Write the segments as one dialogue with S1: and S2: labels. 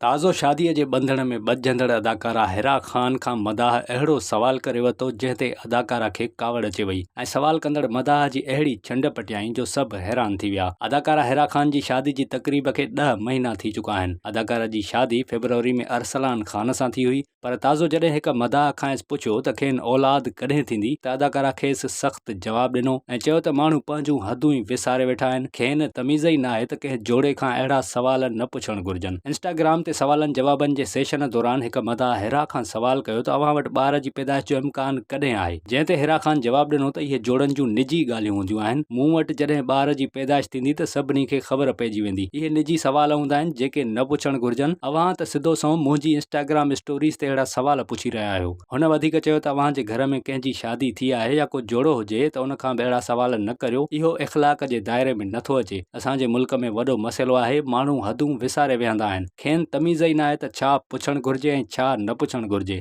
S1: تازو شاديء جي ٻنڌڻ ۾ ٻڌجندڙ اداڪارا حرا خان کان مداح اهڙو سوال ڪري ورتو جنهن تي اداڪارا کي ڪاوڙ اچي وئي ۽ سوال ڪندڙ مداح جي اهڙي ڇنڊ پٽيائين جو سڀ حيران ٿي ويا. اداڪارا حرا خان جي شادي جي تقريب کي ڏهه مهينا ٿي چڪا آهن. اداڪارا جي شادي فيبروري ۾ ارسلان خان سان ٿي هئي. پر تازو جڏهن هڪ مداح کانئس پڇيو ته کين اولاد ڪڏهن ٿيندي ته اداڪارا کيس سخت جواب ڏنو ۽ چيو ته ماڻهو پنهنجون حدون ئي وساري ويٺا آهن کين تميز ئي ناهي ته ڪنهن جوڙي کان اهڙا سوال نه پڇڻ گهرجن انسٽاگرام تي سوالن جوابن جي سيشن دوران هڪ مداح حرا کان سوال ڪيو ته اوهان وٽ ٻار جي پيدائش جو امڪان ڪڏهن آهي؟ جنهن تي حيرا خان جواب ڏنو ته اهي جوڙن جون نجي ڳالهيون هونديون آهن، مون وٽ جڏهن ٻار جي پيدائش ٿيندي ته سڀني کي خبر پئجي ويندي، اهي نجي سوال هوندا آهن جيڪي نه پڇڻ گهرجن، اوهان ته سڌو سنئون منهنجي انسٽاگرام اسٽوريز تي اهڙا سوال پڇي رهيا آهيو. هن وڌيڪ چيو ته اوهان جي گهر ۾ ڪنهن جي شادي ٿي آهي يا ڪو جوڙو هجي ته ان کان به اهڙا سوال نه ڪريو، اهو اخلاق جي دائري ۾ نٿو اچي، اسان جي ملڪ ۾ وڏو مسئلو آهي، ماڻهو حدون وساري ويهندا آهن، کين تميز ئي ناهي ته ڇا پڇڻ گهرجي ۽ ڇا نه پڇڻ گهرجي.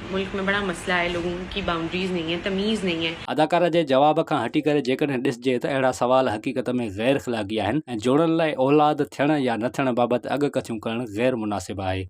S2: ملڪ ۾ بڙا مسئلا هي لوگون ڪي بائونڊريز نهين هي تميز نهين هي. اداڪاره جي جواب کان
S1: هٽي ڪري جيڪڏهن ڏسجي ته اهڙا سوال حقيقت ۾ غير اخلاقي آهن ۽ جوڙڻ لاء اولاد ٿيڻ يا نه ٿيڻ بابت اڳڪٿيون ڪرڻ غير مناسب آهي.